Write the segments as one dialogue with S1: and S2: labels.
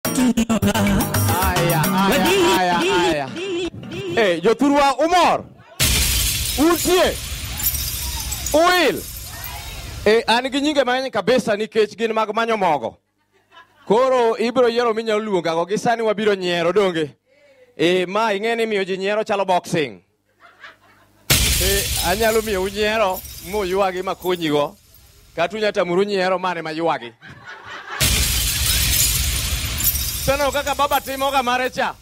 S1: Aya, aya, aya, aya. Eh, jothurwa umor. Utie. Uil. Eh, an gi nyinge mang'eny kabisa nikech gin mag manyo mogo. Koro ibiro yiero minyalo luongago gi sani wabiro nyiero donge. Eh, ma ing'e ni miyo ji nyiero chalo boxing. Eh, anyalo miyo unyiero muywagi makonyigo kata unya tamuru nyiero mane maywagi seneno kaka baba timoga mare cha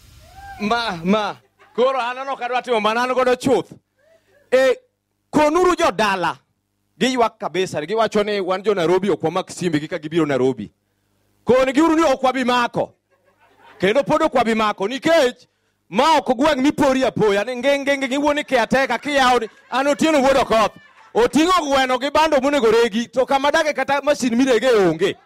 S1: ma ma koro aneno kadwa timo mana an godo chuth e konuru jodala Giywak kabisa, giwacho ni wan jo Nairobi ok wamak simbe gi ka gibiro Nairobi. Konigi uru ni ok wabi mako. Kendo pod ok wabi mako nikech ma ok gweng' mipori apoya ni ngenge ngenge iwuo ni kiateka kiyawo ni an otieno wuod okoth. Oting'o gweno gi bando monego regi to kama dage kata masin mirege onge.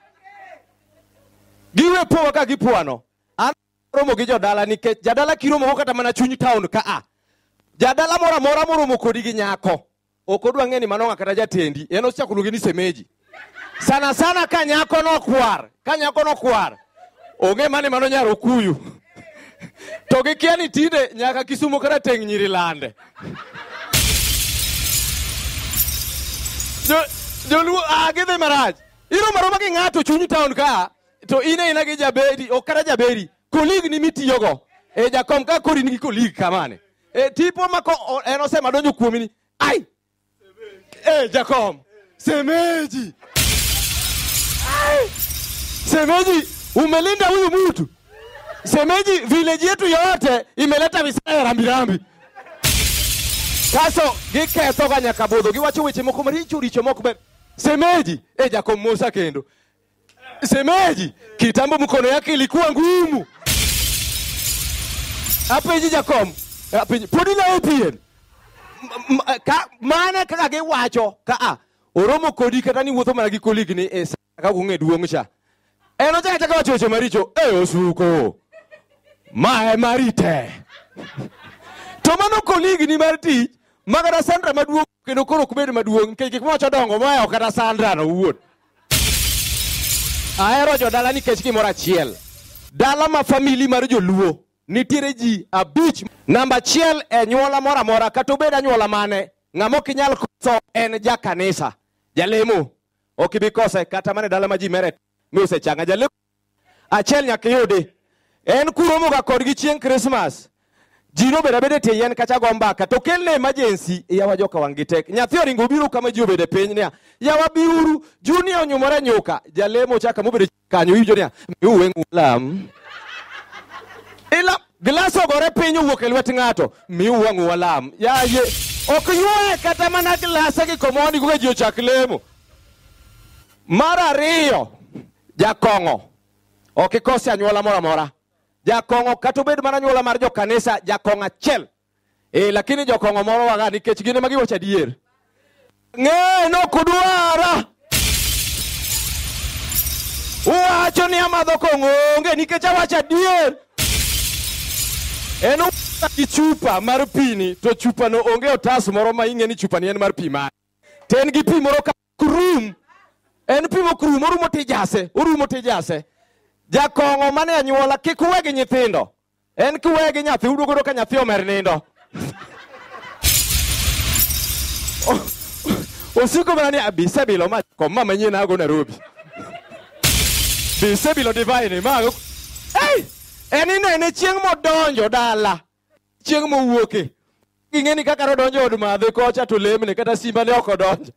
S1: Giwe powa ka gipwano. An romo gi jodala nikech jadala kiromo go kata mana chuny town ka a. Jadala moro amora moromo kodi gi nyako ok odwa ng'e ni manong'a kata jatendi en ochako oluonge ni semeji sana sana ka nyako nokwar ka nyako nokwar ong'e mani mano nyar okuyu to gikia ni tinde nyaka kisumo kata teng' nyiri lande Jo- joluo ah, gidhi marach iroma roma gi ng'ato chuny town ka to in aina gi jaberi ok kata jaberi kolig ni mitiyogo e jakom ka kori nigi kolig kamane e tipo ma ko o- en osema donjo kuomi ni ai e jakom semeji Ai! semeji umelinda huyu mtu semeji village yetu yote imeleta visaya rambirambi kaso gikethoga nyaka budho giwacho weche moko maricho richo mok ber semeji e jakom mosa kendo Semeji, kitambo mkono yake ilikuwa ngumu. Apenji Jakom, apenji podi na APN. M- m- Ka mana kaka ge wacho ka a oromo kodi kata ni wuotho mana gi koligi ni e sa ka kunge duong cha. En ochaka chaka wacho weche maricho, e osuko. Ma e marite. To mano koligi ni mar tich, magara Sandra maduong kendo koro ok bed maduong' nikech gik mowacho dongo moa ok kata sandrano owuon ahero jodala nikech gimoro achiel dala ma famili mar joluo nitiere ji abich namba achiel e nyuola moro amora kata obed anyuola mane ng'ama ok inyal koso en jakanisa jalemo ok ibi kose kata mana e dala ma ji mere mi osechanga jalemo achiel nyaka iyudi en kuromoga kodgi chieng' krismas ji nobedo abeda e tie yien kacha go mbaka to kel ne emergency yawa joka wang' gi tek nyathi oringo obiro kama ji obedo e piny niya yawa biuru junia onyumore nyuka jalemo chaka mobedo kanyo iwinjo niya miu weng'u lam ila glas ogore piny owuok e lwet ng'ato miu wang'u walam yaye ok ywaye kata mana glasa gi komoni kuka ji ochak lemo mar ariyo jakong'o ok ikose anyuola moro amora jakong'o kata obed mana anyuola mar jokanisa jakong'o achiel e, lakini jokong'o moro waga nikech gin ema giwacho adier ng'eye nokudwara uwacho ni amadho kong'o onge nikech awacho adier en uwacho gi chupa mar pini to chupano onge otas moro ma ing'e ni chupani en mar pi mare to en gi pi moro ka krum en pimo krum orumo tijase orumo tijase jakong'o mane anyuola kik uwe gi nyithindo en kiwe gi nyathi uduogo yudo ka nyathi omer nindo O- osiko mana ni abisebilo ma kom ma manyien ago nairobi bisebilo divine ma ago- Ei! en inene chieng' modonjo dala chieng' mowuoke ging'e ni kaka nodonjo od madhe kocha to lemne kata simba ne ok odonjo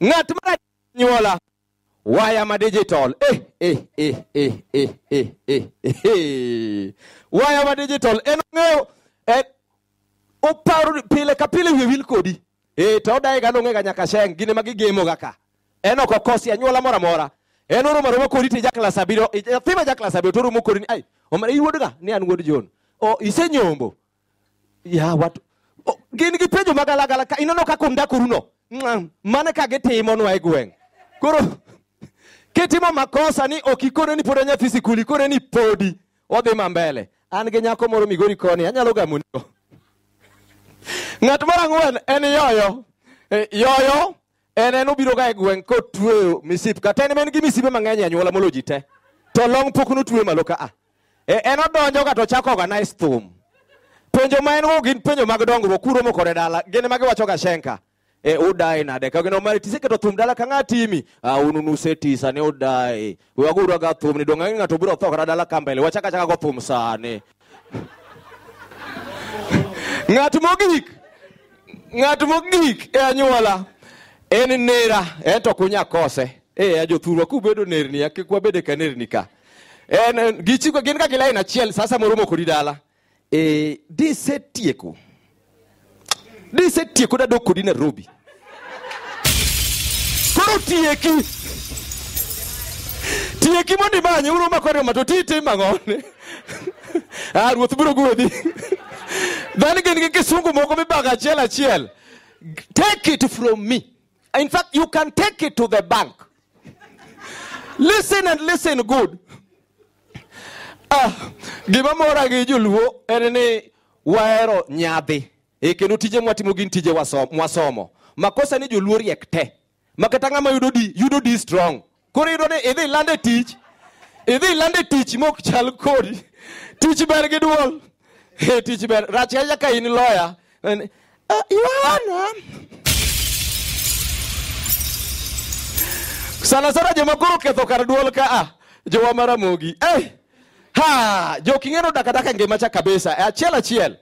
S1: ng'at mar nyuola waya ma digital eh, eh, eh, eh, eh, eh, eh, eh. waya ma digital en ong'eyo en oparo ni pile ka pile wiye wil kodi ee to odayega nong'ega nyaka sheng gine ma gigemoga ka en ok okosi anyuola moro amora en oromo aroma kodi to ijaklas abiriyo nyathi ma jaklas abiriyo to oromo kodi ni ai omera in wuodga ni an wuod jon o isenyombo ya wat o, gin gi penjo magalagala ka ineno kaka undakoruno Ng'am, mane ka gitimonwa e gweng' koro kitimo makosa ni ok ikone ni pod en nyathi sikul ikone ni podi Wadhi ma mbele. An gi nyako moro Migori koni, anyalo gamunigo. Ng'at mar ang'wen en yoyo. Eh, Yoyo en en obiro ga e gweng' kotweyo misip kata en en gi misipe mang'eny e anyuola molo ji te. To long pok notwe malo ka a. Eh, En odonjo ka to chako organize thum. Penjo ma en go gin penjo mag dongruok kuro mokore dala. Gin ma giwacho ga shenka. e, udae nade ka gino mari tise keto thum dala ka ng'a timi ah, unu nuse tisa ne udae we waguru aga thum ni dong' ang'e ng'ato biro tho kata dala ka mbele wachaka chaka go thum sani ng'at mogik ng'at mogik e anyuola en nera en to kunya kose e a jothurwa kubedo nerni ya kik wabede ka nerni ka en en- gichiko gin ka gilain achiel sasa moromo kodi dala e, disetieko disetieko dadok kodi nairobi koro tieki tieki mondo imanye uru mako ariyo mato ti tim ang'one ah ruoth biro gwedhi dhani gin gi kisungu moko mibago achiel achiel take it from me in fact you can take it to the bank listen and listen good Ah, gima mora gi joluo en ni wahero nyadhi e kendo tije mwatimo gin tije waso- mwasomo makosa ni joluo riek te ma kata ng'ama yudo di yudo di strong koro yudo ni idhi lande tich idhi lande tich mok chal kodi tich ber gi duol Eh, tich ber rach ahinya ka in loya And, uh, Yohana sana sana joma koro ketho kar duol ka a jowa maramogi eh ha joking'eno dakadaka e ngima cha kabisa e achiel achiel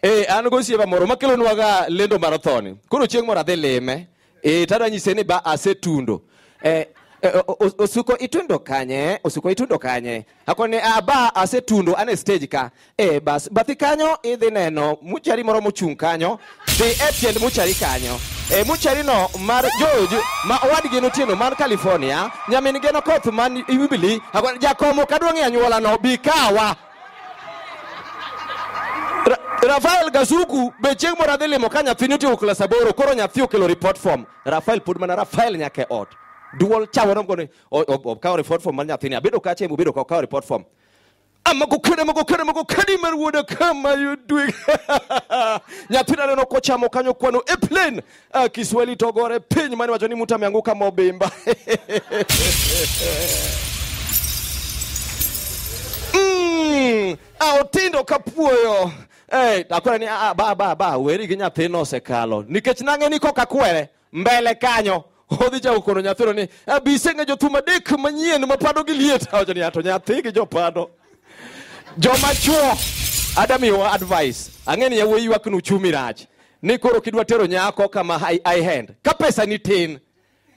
S1: eh an go siepa moro makelonwaga lendo mar thoni koro chieng' moro adhi lime e, tadwa nyise ni ba asetundo e, e, o- o- osuko itundo kanye osuko itundo kanye akoni ah, ba asetundo ane stage ka e, bas bathi kanyo idhi neno muchari moro mochung' kanyo dhi e tiend muchari kanyo e, mucharino mar George ma owadgi notieno man California nyamin geno koth man Jubilee akoni jakomo kadwang'e anyuolano bi kawa Ra Rafael Gazuku be chieng' moro adhi limo ka nyathini otieko klas aboro koro nyathi okelo report form Rafael pod mana Rafael nyaka e ot duol chawo nomgo ni o- o- okawo report form mar nyathini abedo kacha emu bedo ka okawo report form amago kene mago kene mago kene mar wuoda kama yudwe nyathina neno kochamo kanyo kwano e plane Ah, Kiswahili togore piny mani wacho ni mtu ameanguka mobimba. mm, ah, Otindo kapuoyo. Hey, akwere ni ah, ba ba ba weri gi nyathino osekalo nikech nang'e ni koka kwere mbele kanyo odhi chako kono nyathino ni "Ah, bi iseng'e jothum adek manyien mapado gi liet awacho ni "Ah, to nyathi gi jopado joma chuo adamiwa advice ang'e ni yawuoyi ywakni uchumi rach ni koro kidwa tero nyako kama high, high hand ka pesa ni tin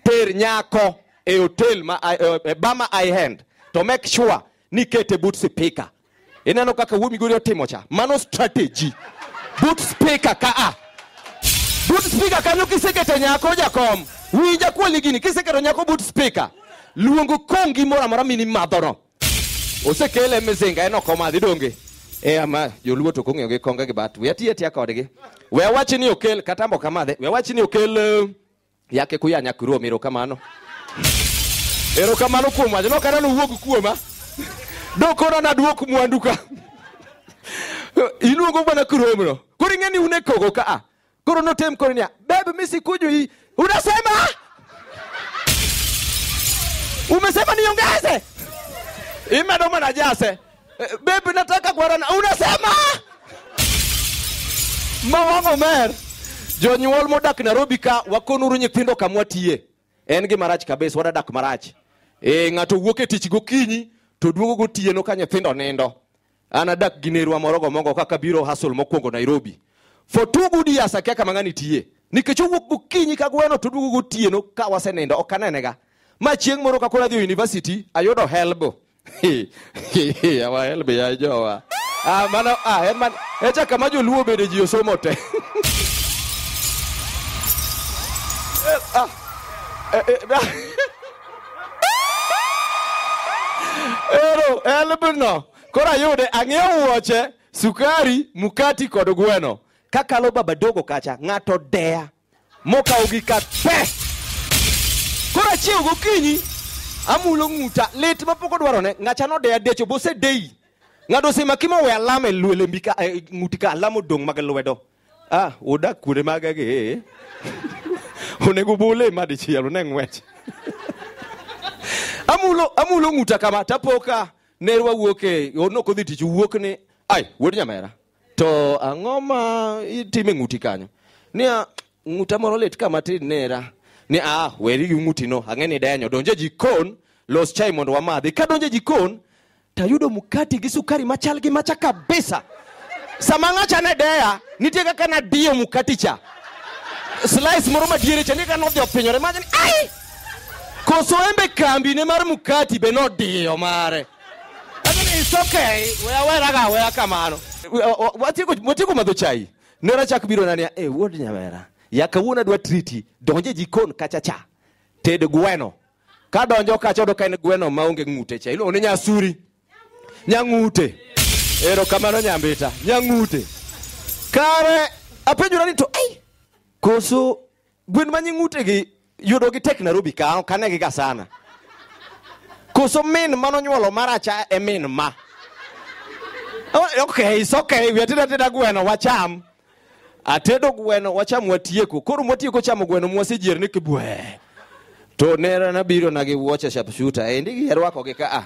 S1: ter nyako e hotel ma e, e bama high hand to make sure ni kete but speaker ineno kaka wuo migori otimo cha mano strategy but speaker ka a but speaker kanyo kisekete nyako jakom winja kuoli gini kiseketo nyako but speaker luongo kongi moro amora mini madhono osekele mizinga en ok omadhi donge e ama joluo to kong'eyo gi konga gi bat we atiya tiya kodgi we awachi ni okel kata mbo kamadhe we awachi ni okel eh, yake kuya nyakurom erokamano erokamano kuom wach nokata nowuog kuoma dokona naduok mwandu ka iluongo mana kuromno koro ing'e ni un e kogo ka a koro notem koro niya bebe mi sikuju hii unasema umesema niongeze imedo mana jase Eh, bebe nataka kuarana unasema mawang'o mer jonyuol modak nairobi ka wakonuru nyithindo kamwa tiye en gima rach kabisa wadadak marach e, ng'ato wuok e tich gokinyi to duogo gotieno ka nyithindo nindo An adak gi nerwa moro gomogo kaka biro hustle mokwongo Nairobi. For two good years akia kama ng'ani tiye. Nikech owuok gokinyi ka gweno to oduogo gotieno ka wasenindo ok anenega. Ma chieng' moro ka koro adhi e university ayudo helb. Awa helb ya jowa. Ah, mano, ah, en man, echa kama joluo bede ji osomo te. Eh, ah, eh, eh, ah. Ero, elbno. Koro ayude, ang'iewo wuoche, sukari, mukati kod gweno. Kakalo baba dogo kacha, ng'ato deya. Mokawo gi ka pe. Koro achiewo gokinyi, amulo ng'uta, lit ma pok odwarone, ng'acha nodeya decho, bosedeyi. Ng'ato osemaki ma we alama e lwe- lembi ka, e, ng'uti ka, alama odong' mag lwedo. ah udak kure maga gi eh. onego bule ma dichiel one ng'wech amulo amulo ng'uta kama tapoka nerwa wuok e ono kodhi tich wuok ni ai wuod nyamera to ang'o ma itime ng'uti kanyo niya ng'uta moro lit kama tin nera ni a weri gi ng'utino ang'e ni denyo donje jikon los chai mondo wamadhi ka donje jikon tayudo mkati gi sukari machal gi macha kabisa sama ng'acha ne deya nitie kaka nadiyo mkati cha slice moro madiere cha nika nodhi opinyore machani ai koso embe kambi ne mar mkati be nodiyo mare Lakini it's okay weya weraga weya kamano watieko watieko madho chai nera chak biro nania e wuod nyamera ya kawuono adwa triti donje jikon kacha cha ted gweno ka donjo kacha odo ka en gweno ma onge ng'ute cha iluongo ni nyasuri nyang'ute ero kamano nyambita nyang'ute kare apenjora ni to ai koso gwen ma nying'ute gi yudo gi tek Nairobi ka ok anegi ga sana koso min mano nyuolo maracha e min ma Oh, okay it's okay wiatinda tinda gweno wacham atedo gweno wacham watieko koro mwatieko chamo gweno mwasejier ni kibwe to nera nabiro na gi wuoche sharpshooter endi gi rwako gi ka a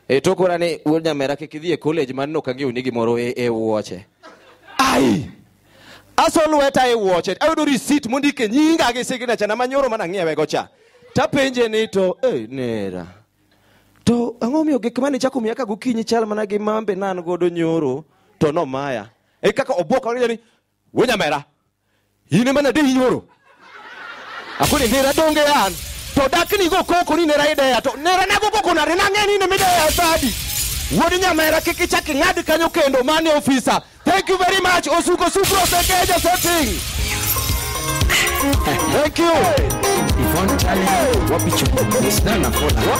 S1: e to kora ni wuod nyamera kik idhi e college man no kang'eyo ni gimoro e, e wuoche ai aso lweta e wuoche ayudo receipt mondike nyinga gi signature na manyoro mana ng'iewe go cha tapenje ni to e nera to ang'o miyo gik mane chako miya ka gokinyi chal mana gi mambe nan godo nyoro to nomaya e kaka obwok orinyo ni we nyamera in ema nade inyoro akoni nera donge an to dakni go koko ni nera ideya to nera nago koko nare nang'e ni nemideya sadi wuod nyamera kik ichak ing'ad kanyo kendo mane ofisa thank you very much osuko sukro osekeja setting thank you Yvonne Tali, wapi chumba? It's not a follow.